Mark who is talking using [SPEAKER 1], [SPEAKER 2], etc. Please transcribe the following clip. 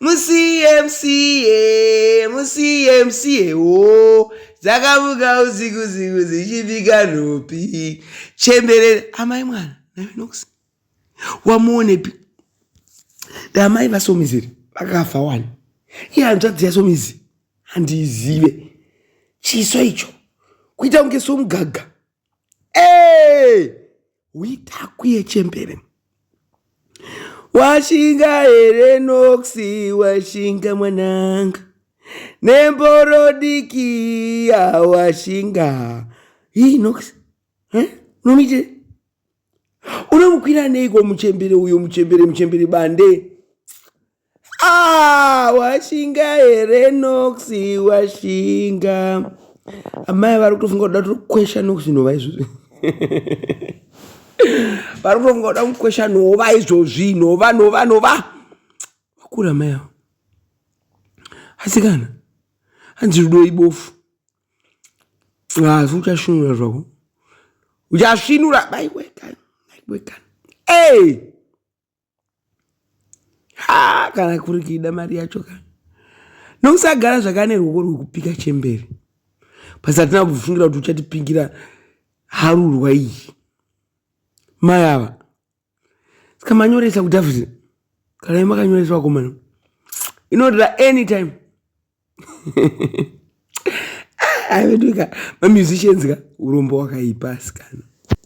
[SPEAKER 1] musiye musiye musiye musiye wo dzakamuka usiku usiku dzichibika nhopi chemberere amai mwana navenox wamuonepi damai vasomiziri vakafa wani iye hanzvadzi yasomizi handiizive chiso icho kuita kunge somugaga Hey! Witaku yechembere. Washinga here noxi washinga mwananga. Nemboro diki yawashinga. Hii noxi. Eh? Nomite. Unomukwira neiko muchembere uyo muchembere muchembere bande. Ah, washinga here Nox washinga. Amai vari kutofunga kuda kukwesha Nox nhova izvozvi. Vari kutofunga kuda kukwesha nhova izvozvi nhova nhova nhova. Vakura amai avo. Asikana. Hanzi rudo ibofu. Ah, so uchashinura zvako. Uchashinura baiwekana. Baiwekana. Hey! ha kana kuri kuida mari yacho ka nokusagara zvakane ruoko rwekupika chembere basi hatina kufungira kuti uchatipingira harurwa iyi mai ava saka manyoresa kudavid kana imakanyoresa vakomana inoda anytime aiveduka mamusicians ka urombo wakaipa asikana